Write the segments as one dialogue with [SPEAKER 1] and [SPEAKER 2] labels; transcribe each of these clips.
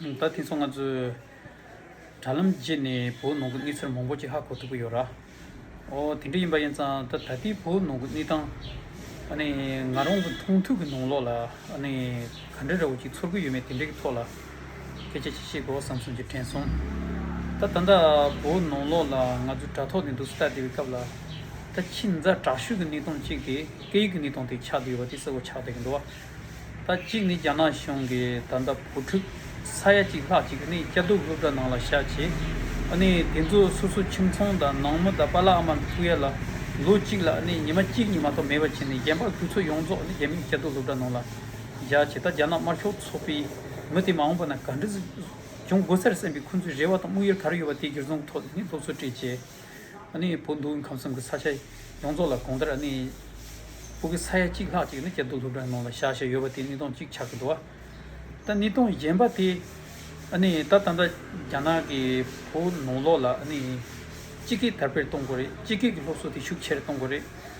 [SPEAKER 1] ད་ཐེངས་སོ་ང་ཚོས་དྲ་ལམ་བརྒྱུད་ནས་བོད་ནང་གི་གནས་ཚུལ་མང་པོ་ཅི་ཧ་གོ་ཐུབ་ཀྱི་ཡོད་ར། ཨོ་དེ་འདྲ་ཡིན་པ་ཡིན་ཙང་ད་ད་ལྟའི་བོད་ནང་གི་གནས་སྟངས་ནི་ང་རང་གི་མཐོང་ཐོས་ཀྱི་ནང་ལོགས་ལ་ནི་ག་འདྲ་རེད་བོ་ཅིག་ཚོར་གྱི་ཡོད་མེད་དེ་འདྲའི་ཐོག་ལ་སྐད་ཆ་ཅིག་བཤད་དགོས་བསམ་སོང་ཅིག་དྲན་སོང། ད་ད་ལྟ་བོད་ནང་ལོགས་ལ་ང་ཚོ་དྲ་ཐོག་ནས་འདུག་སྟབས་བདེ་བའི་སྐབས་ལ། ད་ཁྱིམ་མཚར་དྲག་ཤོས་ཀྱི་གནས་སྟངས་གཅིག་དེ་སྐད་ཡིག་གི་གནས་སྟངས་དེ་ཆགས་ཀྱི་ཡོད་པ་དེ་གསལ་བོ་ཆགས་བསྡད་ཀྱི་འདུག་བ། ད་གཅིག་ནི་རྒྱ་ནག་གཞུང་གིས་ད་ལྟ་བུ་ཕྲུག་ས་ཡ་གཅིག་ལྷག་ཅིག་ནི་སྐྱ་དུག་སློབ་གྲྭ་ནང་ལ་བཞག་རྗེས་ཨ་ནི་དེ་ཚོ་སོ་སོ་ཁྱིམ་ཚང་དང་ནང་མོ་དང་པ་ལགས་དམར་མི་ཕུག་ཡ་ལ་ལོ་གཅིག་ལ་ཨ་ནི་ཉི་མ་གཅིག་གཉིས་མ་གཏོགས་མེད་པ་བྱས་ནས་རྒན་པ་ཁུལ་ཚོ་ཡོངས་རྫོགས་ནི་རྒྱ་མིའི་སྐྱ་དུག་སློབ་གྲྭ་ནང་ལ་བཞག་རྗེས་ད་རྒྱ་ནག་དམར་ཤོག་ཚོགས་པའི་མི་དེ་མ་འོངས་པ་ན་ག་འདྲི་འབྱུང་དགོས་ཟེར་སེམས་པའི་འཁུན་རྩོད་རེ་བ་དང་དམུགས་ཡུལ་ག་རེ་ཡོད་པ་དེ་གྱུར་ཚང་ཐོག་ནས་ནི་སློབ་གསོ་སྤྲད་རྗེས། ཨ་ནི་བོད་མདོའི་ཁམས་གསུམ་གྱི་ས་ཆ་ཡོངས་རྫོགས་ལ་གོང་ལྟར་ཨ་ནི། བོད་ཀྱི་ས་ཡ་གཅིག་ལྷག་ཅིག་ནི་སྐྱ་རྡོ་སློབ་གྲྭའི་ནང་ལ་བཞག་བཞག་ཡོད་པ་དེ་ནི་སྟོང་གཅིག་ཆགས་ཀྱི་འདུག་ཨ། ད་ནི་སྟོང་གཞན་པ་དེ་ཨ་ནི་ད་ད་ལྟ་རྒྱ་ནག་གི་བོད་ནང་ལོགས་ལ་ཨ་ནི། སྤྱི་སྐད་དར་སྤེལ་གཏོང་དགོས་རེད་སྤྱི་སྐད་ཀྱི་སློབ་གསོ་དེ་ཤུགས་ཆེར་གཏོང་དགོས་རེད།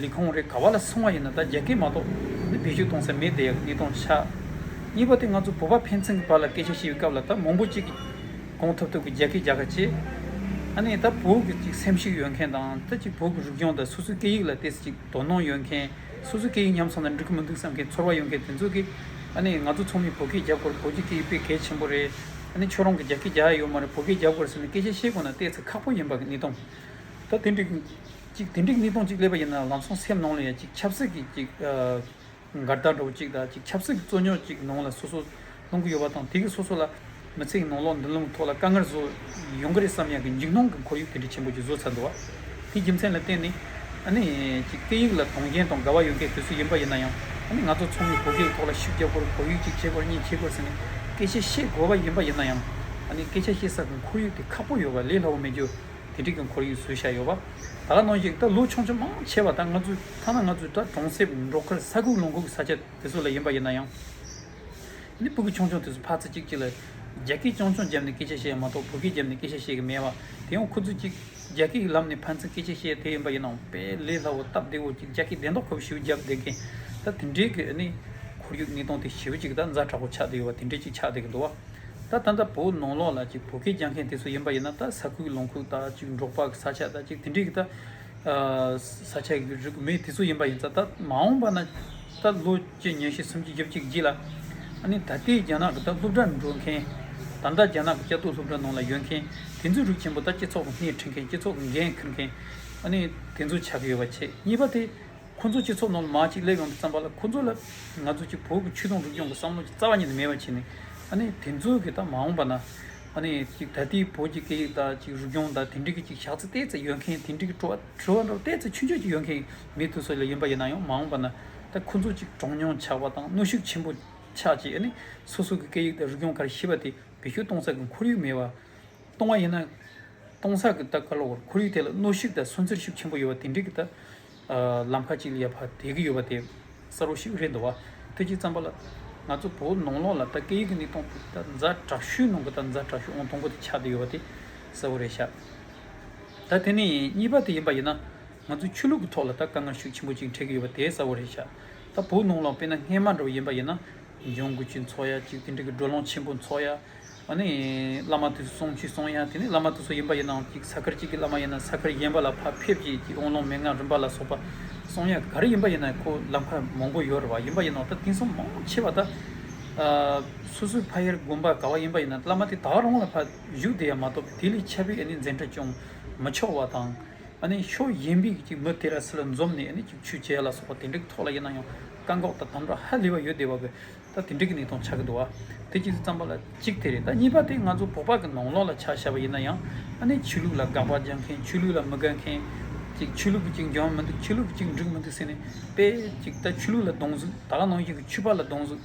[SPEAKER 1] ལི་ཁོང་རེ་ག་བ་ལ་སོང་བ་ཡིན་ན་ད་རྒྱ་སྐད་མ་གཏོགས་འདི་བེད་སྤྱོད་གཏོང་ས་མེད་དེ་གཉིས་སྟོང་ཆ། གཉིས་པ་དེ་ང་ཚོ་བོད་པ་ཕན་ཚུན་གྱི་བར་ལ་སྐད་ཆ་བཤད་པའི་སྐབས་ལ་ད་མང་པོ་གཅིག་གིས་གོང་ཐུབ་ཐུབ་ཀྱི་རྒྱ་སྐད་རྒྱག་ཁ་ཆེ། ཨ་ནི་ད་བོད་ཀྱི་གཅིག་སེམས་ཤུགས་ཡོད་མཁན་དང་ད་གཅིག་བོད་ཀྱི་རིག་གཞུང་དང་སོ་སོའི་སྐད་ཡིག་ལ་དེ་གཅིག་དོ་སྣང་ཡོད་མཁན་སོ་སོའི་སྐད་ཡིག་ཉམས་སོང་ན་འགྲིག་གི་མི་འདུག་བསམ་མཁན་ཚོར་བ་ཡོད་མཁན་དེ་ཚོ་གིས་ཨ་ནི་ང་ཚོ་ཚོགས་མིས་བོད་སྐད་རྒྱབ་དགོས་རེད་བོད་ཀྱི་སྐད་ཡིག་སྤེལ་གལ་ཆེན་པོ་རེད། ཨ་ནི་ཁྱོད་རང་གི་རྒྱ་སྐད་རྒྱག་ཡ་ཡོད་མ་རེད་བོད་སྐད་རྒྱབ་དགོས་རེད་ཟེར་ནས་སྐད་ཆ་བཤད་དགོས་ན་བལྟས་ཚེ་ཁག་པོ་ཡིན་པ་གཉིས་སྟོང། ད་དེ་འགྲིག། གཅིག་དེ་འགྲིག་གཉིས་སྟོང་གཅིག་སླེབས་པ་ཡིན་ན་ལམ་སང་སེམས་ནང་ལ་ཡང་གཅིག་ཆབ་སྲིད་ཀྱི་གཅིག་འགལ་ཟླ་འགྲོ་བ་གཅིག་དང་གཅིག་ཆབ་སྲིད་ཀྱི་རྩོད་རྙོག་གཅིག་ནང་ལ་སོ་སོ་ལྷུང་གི་ཡོད་པ་དང་དེ་གིས་སོ་སོ་ལ་མི་ཚེ་གི་ནང་ལོག་མདུན་ལམ་ཐོག་ལ་དཀའ་ངལ་བཟོ་ཡོང་གི་རེད་བསམ་ཡང་གི་འཇིགས་སྣང་གི་ཁོར་ཡུག་དེ་འདྲའི་ཆེན་པོ་གཅིག་བཟོ་ཚར་འདུག་བ། དེའི་རྒྱུ་མཚན་ལ་བརྟེན་ནས་ཨ་ནི་གཅིག་སྐད་ཡིག་ལ་དུང་ཞེན་དང་དགའ་བ་ཡོད་མཁན་དེ་ཚོ་ཡིན་པ་ཡིན་ན་ཡང་ཨ་ནི་ང་ཚོ་ཚང་མས་བོད་སྐད་ཀྱི་ཐོག་ལ་ཤུགས་རྒྱག་དགོས་རུང་བོད་ཡིག་གཅིག་ཁྱད་དགོས་རེད་གཉིས་ཁྱད་དགོས་རེད་ཟེར་ནས་སྐད་ཆ་བཤད་དགོས་པ་ཡིན་པ་ཡིན་ན་ཡང་ཨ་ནི་སྐད་ཆ་བཤད་ས་གི་ཁོར་ཡུག་དེ་ཁག་པོ་ཡོད་པ་ལས་སླ་བོ་མེད་རྒྱུ། དེ་འགྲིག་གི་འཁོར་ཡུག་བཟོས་བཞག་ཡོད་པ། ད་ག་ནོ་ཞིག་ད་ལོ་ཆུང་ཆུང་མང་ཆེ་བ་ད་ང་ཚོའི་ཐ་ན་ང་ཚོའི་དགྲ་གྲོང་གསེབ་འབྲོག་ཁར་ས་ཁུག་ལུང་ཁུག་ས་ཆ་དེ་ཚོ་ལ་ཡིན་པ་ཡིན་ན་ཡང། ནི་སྤུ་གི་ཆུང་ཆུང་དེ་ཚོ་ཕར་ཚེ་གཅིག་གཅིག་ལ། རྒྱ་སྐད་ཅོང་ཆུང་བརྒྱབ་ནས་སྐད་ཆ་བཤད་ཡ་མ་གཏོགས་བོད་སྐད་བརྒྱབ་ནས་སྐད་ཆ་བཤད་གི་མེད་པ། དེ་ཡང་ཁུ་ཚུར་གཅིག་རྒྱ་སྐད་ཀྱི་ལམ་ནས་ཕན་ཚུན་སྐད་ཆ་བཤད་དེ་ཡིན་པ་ཡིན་ནའང་དཔེ་ལེ་ལྷ་བོ་སྟབས་བདེ་བོ་གཅིག་རྒྱ་སྐད་བདེན་མདོག་ཁོ་བོས་ཞེའུ་བརྒྱབ་བསྡད་མཁན། ད་དེ་འདྲའི་གི་ནི། འཁོར་ཡུག་གཉིས་སྟོང་དེ་ཞེའུ་གཅིག་ད་རྫ་དྲག་པོ་ཆགས་བསྡད་ཡོད་པ་དེ་འདྲའི་གཅིག་ཆགས་བསྡད་ཀྱི་འདུག་བ། ད་ད་ད་བོུ་ནོང་ལོག་ལ་ཅིག་བོུ་གས་རྒྱག་མཁན་དེ་ཚོ་ཡིན་པ་ཡིན་ན་ད་ས་ཁུལ་ལོང་ཁུག་ད་ཅིག་འབྲོག་པ་གི་ས་ཆ་ད་ཅིག་དེ་འདྲིག་ད་ས་ཆ་གི་རིག་མི་དེ་ཚོ་ཡིན་པ་ཡིན་ད་ད་མ་འོངས་པ་ན་ད་ལོ་གཅིག་ཉེར་བཞི་སུམ་ཅུ་བརྒྱ་བཅུ་གི་རྗེས་ལ་ཨ་ནི་ད་ལྟའི་རྒྱ་ནག་གི་ད་སློབ་གྲྭར་འགྲོ་མཁན་ད་ལྟ་རྒྱ་ནག་གི་སྐྱ་དུག་སློབ་གྲྭ་ནང་ལ་ཡོད་མཁན་དེ་ཚོའི་རིགས་ཆེན་པོ་ད་སྤྱི་ཚོགས་ཀྱི་སྣེ་ཁྲིད་མཁན་སྤྱི་ཚོགས་ཀྱི་འགན་འཁུར་མཁན་ཨ་ནི་དེ་ཚོ་ཆགས་ཀྱི་ཡོད་པ་ཆེ་གཉིས་པ་དེ། ཁོ་ཚོ་སྤྱི་ཚོགས་ནང་དུ་མང་ཅིག་སླེབས་ཡོང་དུས་བརྩམས་པ་ལ་ཁོ་ཚོ་ལ་ང་ཚོ་གཅིག་བོད་ཀྱི་ཆོས་དུང་སྒྲུབ་སྐྱོང་གི་བསམ་བློ་གཅིག་རྩ་བ་ཉིད་ནས་མེད་པ་བྱས་ནས་ཨ་ནི་དེ་ཚོ་གི་ད་མ་འོངས་པ་ན་ཨ་ནི་གཅིག་ད་ལྟའི་བོད་ཀྱི་སྐད་ཡིག་དང་གཅིག་རུས་སྐྱོང་དང་དེ་འབྲེལ་གྱི་གཅིག་ཕྱག་ཚིལ་བལྟས་ཚེ་ཡོད་མཁན་དེ་འབྲེལ་གྱི་བྲོ་བ་བྲོ་བ་འདྲ་བོ་བལྟས་ཚེ་ཆུ་འཇོག་ཅིག་ཡོད་མཁན་མི་དེ་ཚོ་ལས་ཡིན་པ་ཡིན་ན་ཡང་མ་འོངས་པ་ན་ད་ཁོ་ཚོ་གཅིག་གྲངས་ཉུང་ཆགས་པ་དང་གནོད་ཤུགས་ཆེན་པོ་ཆགས་རྗེས་ཨ་ནི་སོ་སོ་གི་སྐད་ཡིག་དང་རུས་སྐྱོང་ག་རེ་ཤེས་པ་དེ་བེད་སྤྱོད་གཏོང་ས་ཀྱི་ཁོར་ཡུག་མེད་པ། སྟོང་བ་ཡིན་ན། སྟོང་བསགས་ཀྱི་རྟགས་ཀ་ལ་བོར་ཁོར་ཡུག་དེ་ལ་གནོད་ཤུགས་དང་སུན་གཙེར་ཤུགས་ཆེན་པོ་ཡོད་པ་དེ་འདྲིག་གི་རྟགས། ལམ་ཁ་ཅིག་ལ་ཡར་བར་དལ་གྱི་ཡོད་པ་དེ་གསར་བོ་ཞིག་རེད་འདུག་བ། ཐུགས་རྗེ་བརྩམས་པ་ལགས། ང་ཚོ་བོད་ནང་ལོགས་ལ་རྟ་སྐད་ཡིག་གི་ནི་སྟོང་ཕུག་རྟ་མཛའ་དྲག་ཤུལ་ནང་གི་རྟ་མཛའ་དྲག་ཤུལ་ཨོང་སྟོང་པོ་དེ་ཆགས་དེ་ཡོད་པ་དེ་གསལ་བོ་རེད་ཤག། ད་དེ་ནི་གཉིས་པ་དེ་ཡིན་པ་ཡིན་ན། ང་ཚོ་ཆོས་ལུགས་ཀྱི་ཐོག་ལ་རྟ་དཀའ་ངལ་ཤུགས་ཆེན་པོ་ཅིག་འཕྲད་ཀྱི་ཡོད་པ་དེ་གསལ་བོ་རེད་ཤག། ད་བོད་ནང་ལོགས་དཔེར་ན་སྔས་མ་འགྲོ་བ་ཡིན་པ་ཡིན་ན། འབྱུང་དགུ་ཆུའི་ཚོགས་ཡ་གཅིག་དེ་འདྲ་གི་འགྲོ་ལོངས་ཆེན་པོ་ཚོགས་ཡ། ཨ་ནི། བླ་མ་དུས་སུ་སོང་ཆུས་སོང་ཡ་དེ་ནི་བླ་མ་དུས་སུ་ཡིན་པ་ཡིན་ནའང་གཅིག་ས་ཁར་གཅིག་གི་བླ་མ་ཡིན་ན་ས་ཁར་གཞན་པ་ལ་ཕ་ཕེབས་ཀྱིས་ཀྱིས་དབོན་ལོང་མན་ངག་རིམ་པ་ལ་སོགས་པ། སོང་ཡ་ག་རེ་ཡིན་པ་ཡིན་ནའི་ཁོ་ལམ་ཁ་མང་པོ་ཡོད་རེད་བ་ཡིན་པ་ཡིན་ནའོ་ད་དེང་སང་མང་པོ་ཆེ་བ་ད། སོ་སོའི་ཕ་ཡར་དགོན་པར་ག་བ་ཡིན་པ་ཡིན་ན་བླ་མ་དེ་དག་རང་ལ་ཕ་བཞུགས་དེ་ཡང་མ་གཏོགས་པའི་དེ་ལས་ཁྱབ་པའི་ཨ་ནི་མཛད་འཕྲིན་ཅུང་མི་ཆོག་བ་དང། ཕྱོགས་གཞན་པའི་གཅིག་མི་ཏེ་ར་སི་ལ་འཛོམས་ནས་གཅིག་ཆུ་བྱས་ལ་སོགས་པ་དེ་འདྲའི་ཐོག་ལ་ཡིན་ན་ཡང་བཀག་འགོག་དང་དམ་དྲག་ཧ་ལས་པ་ཡོད་བསྡད་པ་བས་ད་དེ་འདྲའི་གི་ནས་ཐོང་ཆགས་གི་འདུག་བ་དེ་གཅིག་བརྩམས་པ་ལ་གཅིག་དེ་རེད་ད་གཉིས་པ་དེ་ང་ཚོ་བོད་པ་གི་ནང་ལོགས་ལ་ཆ་བཞག་པ་ཡིན་ན་ཡང་ཨ་ནེ་ཆོས་ལུགས་ལ་དགག་པ་རྒྱག་མཁན་ཆོས་ལུགས་ལ་མི་དགའ་མཁན་གཅིག་ཆོས་ལུགས་ཀྱི་གཅིག་འཇོན་མི་འདུག་ཆོས་ལུགས་ཀྱི་གཅིག་འགྲིག་མི་འདུག་ཟེར་ནས་དཔེ་གཅིག་ད་ཆོས་ལུགས་ལ་སྡོང་གཟུགས་ད་ལ་ནང་བཞིན་གྱི་ཆོས་པ་ལ་སྡོང་གཟུགས།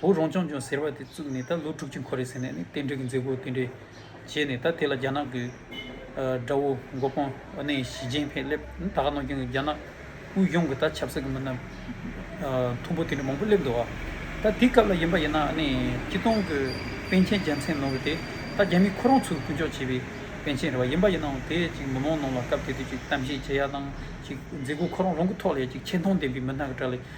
[SPEAKER 1] བོད་རང་སྐྱོང་ལྗོངས་ཟེར་བ་དེ་བཙུགས་ནས་ད་ལོ་དྲུག་ཅུ་འཁོར་རེད་ཟེར་ནས་ནི་རྟེན་འབྲེལ་གྱི་མཛད་སྒོ་དེ་འདྲས་བྱས་ནས་ད་དེ་ལ་རྒྱ་ནག་གི་དགྲ་བོ་མགོ་དཔོན་ཨ་ནེ་ཞི་ཅིན་ཕེན་སླེབས་ད་ག་ནང་སྐྱོན་གྱི་རྒྱ་ནག་དབུས་གཞུང་གི་ད་ཆབ་སྲིད་ཀྱི་མི་སྣ་མཐོན་པོ་དེ་འདྲ་མང་པོ་སླེབས་འདུག་ད་དེ་སྐབས་ལ་ཡིན་པ་ཡིན་ན་ཨ་ནེ་སྐྱིད་སྡོང་གི་པན་ཆེན་རྒྱལ་མཚན་ནོར་བུ་དེ་ད་རྒྱ་མི་ཁོ་རང་ཚོས་ཀུན་སྤྱོད་བྱས་པའི་པན་ཆེན་རེད་བ་ཡིན་པ་ཡིན་ནའང་དེ་ཅིག་མི་མང་ནང་ལ་སྐབས་དེ་དུས་ཅིག་གཏམ་བཤད་བྱེད་ཡག་དང་ཅིག་མཛད་སྒོ་ཁོ་རང་རང་གི་ཐོག་ལས་ཅིག་ཆེ་མཐོང་ལྡན་པའི་མི་སྣ་ག་གྲགས་ལས་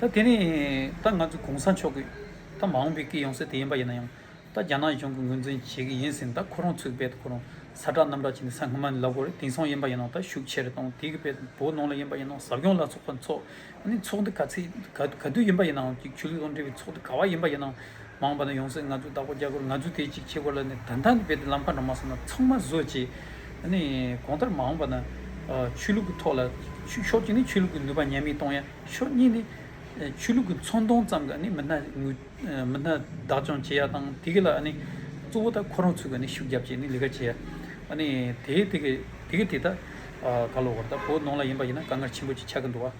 [SPEAKER 1] ད་དེ་ནི་ད་ང་ཚོ་གོང་ས་མཆོག་གིས་ད་མ་འོངས་པའི་སྐྱིད་ཡོང་སྲིད་དེ་ཡིན་པ་ཡིན་ན་ཡང་ད་རྒྱ་ནག་གཞུང་གི་ངོས་འཛིན་བྱེད་ཀྱི་ཡིན་ཟིན་ད་ཁོ་རང་ཚུགས་པས་ཁོ་རང་ས་གྲགས་གནམ་གྲགས་བྱས་ནས་ས་སྔ་མ་ནས་ལབ་དགོས་རེད་དེང་སང་ཡིན་པ་ཡིན་ན་ད་ཤུགས་ཆེ་རེད་དང་དེ་གི་བེད་པོ་ནང་ལ་ཡིན་པ་ཡིན་ན་ཟབ་སྦྱོང་ལ་ཚོགས་པ་འཚོགས་ནས་ཚོགས་འདི་ག་ཚེད་ག་དུས་ཡིན་པ་ཡིན་ནའང་ཅིག་ཆོས་ལུགས་དང་འབྲེལ་བའི་ཚོགས་འདི་ག་བ་ཡིན་པ་ཡིན་ནའང་མ་འོངས་པ་ན་ཡོང་སྲིད་ང་ཚོས་བདག་པོ་རྒྱག་དགོས་རེད་ང་ཚོས་དེ་ཅིག་བྱེད་དགོས་ལ་ནི་ད་ལྟ་ནས་བེད་དེ་ལམ་ཁ་འགྲོ་མ་སོང་ན་ཚང་མ་བཟོད་ཅེས་གང་ལྟར་མ་འོངས་པ་ན་ཆོས་ལུགས་ཀྱི་ཐོག་ལ་ཆོས་ཕྱོགས་གཅིག་ནས་ཆོས་ལུགས་ཀྱི་ནུས་པ་ཉམས་མི་གཏོང་ཡ། ཕྱོགས་གཉིས་ནི་ཆོས་ལུགས་ཀྱི་ཚོང་མདོང་ཙམ་གྱི་མི་སྣ་མི་སྣ་བདག་སྐྱོང་བྱེད་ཡ་དང་དེ་གི་ལ་ནི་གཙོ་བོ་དག་ཁོ་རང་ཚོས་ཀྱི་ཤུགས་རྒྱབ་ཀྱི་ནི་ལས་ཀ་བྱེད་ཡ་ཨ་ནི་དེ་དེ་གི་དེ་གི་དེ་ད་ག་ལོ་བར་ད་བོད་ནང་ལ་ཡིན་པ་ཡིན་ན་དཀའ་ངལ་ཆེན་པོ་ཅིག་ཆགས་ཀྱི་འདུག་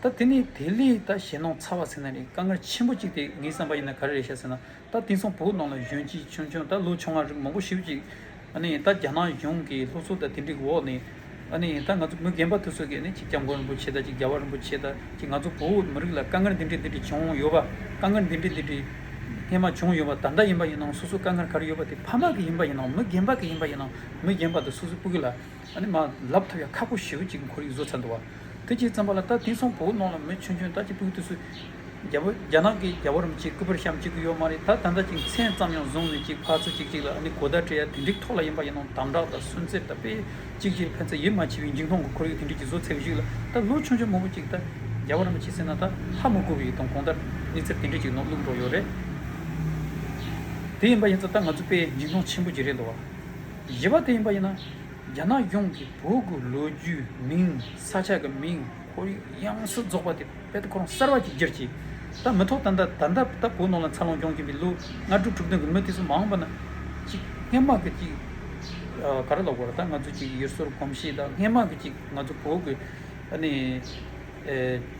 [SPEAKER 1] ད་དེ་ནི་དེ་ལས་ད་གཞན་ནང་ཚ་བ་ཟེར་ན་ནི་དཀའ་ངལ་ཆེན་པོ་ཅིག་དེ་ངའི་བསམ་པ་ཡིན་ན་ག་རེ་རེད་བཤད་ཟེར་ན། ད་དེང་སང་བོད་ནང་ལ་གཞོན་སྐྱེས་ཆུང་ཆུང་ད་ལོ་ཆུང་མ་རིགས་མང་པོ་ཞིག་ཅིག་ད་རྒྱ་ནག་གཞུང་གི་ལྷུག་སོ་ད་དེ་འདྲི་གི་འོག་ནས་ད་ང་ཚོ་མི་རྒན་པ་དུ་ཚོད་ཀྱིས་ཅིག་སྐྱབས་མགོན་རིན་པོ་ཆེ་ད་ཅིག་རྒྱལ་བ་རིན་པོ་ཆེ་ད་ཅིག་ང་ཚོ་བོད་མི་རིགས་ལ་དཀའ་ངལ་འདི་འདྲི་འདི་འདྲི་བྱུང་ཡོད་པ་དཀའ་ངལ་འདི་འདྲི་འདི་འདྲི་སྔས་མ་བྱུང་ཡོད་པ་ད་ལྟ་ཡིན་པ་ཡིན་ནའང་སོ་སོ་དཀའ་ངལ་ག་རེ་ཡོད་པ་དེ་ཕ་མ་གི་ཡིན་པ་ཡིན་ནའང་མི་རྒན་པ་གི་ཡིན་པ་ཡིན་ནའང་མི་རྒན་པ་དུ་སོ་སོས་སྤུ་གི་ལ་མ་ལབ་ཐབས་ཡ་ཁག་པོ་ཞིག་ཅིག་ཁོར་ཡུག་བཟོ་ཚར་འདུག་བ་དེ་ཅིག་ཙམ་པ་ལ་ད་དེང་སང་བོད་ནང་ལ་མི་ཆུང་ཆུང་ད་ཅིག་སྤུ་གི་དུ་ཚོད་རྒྱལ་པོ་རྒྱ་ནག་གི་རྒྱལ་པོ་རིམ་གཅིག་སྐུ་པར་བཤམ་གཅིག་གི་ཡོད་མ་རེད་ད་ད་འདྲ་ཅིག་མཚན་ཙམ་ཡང་བཟུང་མེད་ཅིག་ཕག་ཚ་ཅིག་ཅིག་ལ་ཨ་ནི་གོ་བརྡ་སྤྲད་ཡ་དེ་འགྲིག་ཐོག་ལ་ཡིན་པ་ཡིན་ནོ་དམ་དྲག་དང་སུན་གཙེར་དང་སྤེལ་ཅིག་ཅིག་ལ་ཕན་ཚ་ཡིད་མ་ཆེས་པའི་འཇིགས་མཐོང་གི་ཁོར་ཡུག་དེ་འདྲིག་གི་བཟོ་འཚལ་བ་ཞིག་ལ་ད་ལོ་ཆུང་ཆུང་མོ་པོ་ཅིག་ད་རྒྱལ་པོ་རིམ་གཅིག་ཟེར་ན་ད་ལྷ་མོ་སྐུ་བའི་དང་གོང་ད་གནས་ཚུལ་དེ་འདྲིག་ཅིག་ནོར་བླུག་འགྲོ་ཡོད་རེད། དེ་ཡིན་པ་ཡིན་ཚ་ད་ང་ཚོ་པས་འཇིགས་མཐོང་ཆེན་པོ་ཅིག་རེད་འདུག་བཞི་པ་དེ་ཡིན་པ་ཡིན་ན་རྒྱ་ནག་གཞུང་གི་བོད་ཀྱི་ལོ་རྒྱུས་མིང་ས་ཆ་གི་མིང་ཁོར་ཡུག་དབྱངས་གསལ་རྫོགས་པ་དེ། དཔལ་དུ་འཁོར་བ་གསར་བ་གཅིག་གྱུར་གྱིས། ད་མི་ཐོག་ད་ལྟ་ད་ལྟ་ད་བོ་ནོར་ལ་འཚར་ལོངས་སྐྱོང་གིན་པའི་ལོ་ལྔ་དྲུག་དྲུག་བདུན་གྱི་མུ་སྟེགས་སུ་མ་འོངས་པ་ན། ཅིག་སྔན་དམག་གི་ཅིག། ག་རེ་ལོག་པར་ད་ང་ཚོ་ཅིག་ཡུལ་སྲོལ་གོམས་གཤིས་དང་སྔན་དམག་གི་ཅིག་ང་ཚོ་བོད་ཀྱི། ཨ་ནི།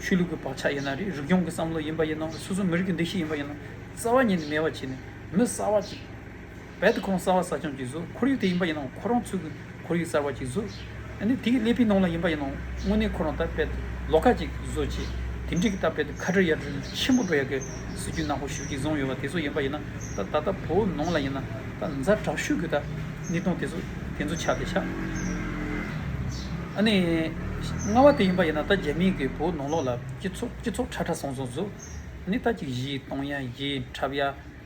[SPEAKER 1] ཆོས་ལུགས་ཀྱི་བག་ཆགས་ཡིན་ན་རེད་རིག་སྐྱོང་གི་བསམ་བློ་ཡིན་པ་ཡིན་ན་སོ་སོ་མི་རིགས་ཀྱི་འདུ་ཤེས་ཡིན་པ་ཡིན་ན་རྩ་བ་ཉིད་ནས་མེད་པ་བྱས་ནས་མི་གསར་བ་ཅིག། རྦད་དེ་ཁོང་གསར་བ་གསར་བྱང་གི་གཟུགས་ཁོར་ཡུག་དེ་ཡིན་པ་ཡིན་ནའང་ཁོ་རང་ཚོའི་ཁོར་ཡུག་གསར་བ་གྱི་གཟུགས། ནི་དེའི་ཀླད་པའི་ནང་ལ་ཡིན་པ་ཡིན་ནའང་དངོས་གནས་ཁོ་རང་ལྟར་རྦད་དེ་ལོག་ཁ་ཅིག་བཟོ་ཆེད་དེ་འདྲའི་གི་ལྟར་རྦད་དེ་ཁ་བྲལ་ཡར་བྲལ་ཆེན་པོ་འགྲོ་ཡ་གི་སྲིད་རྒྱུ་ནག་པོ་ཞུ་གྱིས་བཟུང་ཡོད་པ་དེ་ཚོ་ཡིན་པ་ཡིན་ན་ད་ད་ལྟ་བོའུ་ནང་ལ་ཡིན་ན་ད་མཛའ་གྲགས་ཤུགས་ཀྱི་ད་ནི་སྟོང་དེ་ཚོ་དེ་ཚོ་ཆགས་དེ་ཆགས། ནི། སྔ་བ་དེ་ཡིན་པ་ཡིན་ན་ད་རྒྱ་མིའི་གི་བོའུ་ནང་ལོག་ལ་སྤྱི་ཚོགས་སྤྱི་ཚོགས་ཁྲ་ཁྲ་སོང་སོང་བཟོ། ནི་ད་ཅིག་གཞིའི་སྟོང་ཡ་གཞིའི་འཁྲབ་ཡ།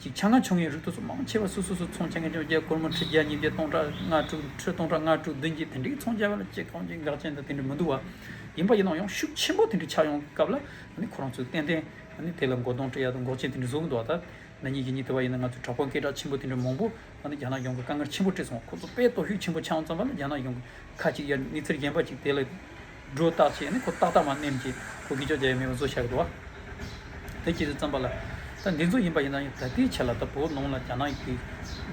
[SPEAKER 1] ཅིག་ཆ་ལྔ་ཆུང་ངུའི་རིགས་དུག་གསུམ་མང་ཆེ་བ་སུ་སུ་སུ་ཚོང་བྱེད་མཁན་བཅོ་བརྒྱད་སྒོར་མོ་ཁྲི་བརྒྱ་ཉིས་བརྒྱ་སྟོང་ཕྲག་ལྔ་དྲུག་ཁྲི་སྟོང་ཕྲག་ལྔ་དྲུག་བདུན་གྱིས་དེ་འདྲའི་ཚོང་བྱེད་པ་ལ་ཅི་གང་ཅི་འགག་ཅན་དང་དེ་འདྲ་མི་འདུག་བ། ཡིན་པ་ཡིན་ནའང་ཡང་ཤུགས་ཆེན་པོ་དེ་འདྲའི་ཆགས་ཡོང་སྐབས་ལ་ཁོ་རང་ཚོས་ཏན་ཏན་དེ་ལ་མགོ་སྟོང་དཀྲི་ཡ་དང་འགོག་བྱེད་དེ་འདྲ་བཟོ་གི་འདུག་བ་ད་ནངས་ཉིན་གྱི་ཉིན་དེ་བ་ཡིན་ན་ང་ཚོས་དྲག་པོ་སྐད་གྲགས་ཆེན་པོ་དེ་འདྲ་མང་པོ་རྒྱ་ནག་གཞུང་གི་དཀའ་ངལ་ཆེན་པོ་དཀྲི་སོང་བ་ཁོ་ཚོ་དཔེ་ལྟོ་ཤུགས་ཆེན་པོ་ཆགས་འོང་ཙམ་པ་ལ་རྒྱ་ནག་གཞུང་གིས་ཁ་ཅིག་ཡར་མི་ཚེར་རྒྱན་པ་ཅིག་དེ་ལ། སྒྲོ་བཏགས་བྱས་ནས་ཁོ་ཏག་ཏག་མ་སྣེམས་ཀྱི་ཁོ་གིས་ཅོ་རྒྱལ་ཡ་མེད་པ་བཟོ་བཞག་འགྲོ་བ། དེ་ཁྱེད་ཚོས་བརྩམས་པ་ལ། ད་འདི་ཚོ་ཡིན་པ་ཡིན་ན་ཡང་ད་ལྟའི་ཆད་ལ་ད་བོད་ནང་ལ་རྒྱ་ནག་གིས་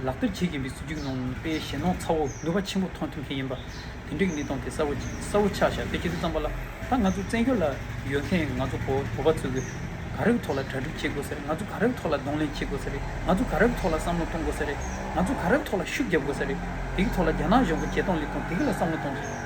[SPEAKER 1] ལག་བསྟར་བྱེད་ཀྱིན་པའི་སྲིད་ཇུས་ནང་པའི་ཞེན་ནོར་ཚ་བོ་ནུས་པ་ཆེན་པོ་ཐོན་ཐུབ་མཁན་ཡིན་པ། དེ་འདྲའི་གནས་སྟངས་དེ་གསལ་བོ་གསལ་བོ་ཆགས་བཞག་དེ་ཁྱེད་ཚོས་བརྩམས་པ་ལ། ད་ང་ཚོ་བཙན་བྱོལ་ལ་ཡོད་མཁན་ང་ཚོ་བོད་པ་ཚོས་གི་ག་རེའི་ཐོག་ལ་གྲ་སྒྲིག་བྱེད་དགོས་ཟེར་རེད་ང་ཚོ་ག་རེའི་ཐོག་ལ་གདོང་ལེན་བྱེད་དགོས་ཟེར་རེད་ང་ཚོ་ག་རེའི་ཐོག་ལ་བསམ་བློ་གཏོང་དགོས་ཟེར་རེད་ང་ཚོ་ག་རེའི་ཐོག་ལ་ཤུགས་རྒྱབ་དགོས་ཟེར་རེད་དེ་གི་ཐོག་ལ་རྒྱ་ནག་གཞུང་གི་བྱེད་སྟངས་ལེགས་སྟངས་དེ་གི་ལ་བསམ་བློ་གཏོང་དགོས།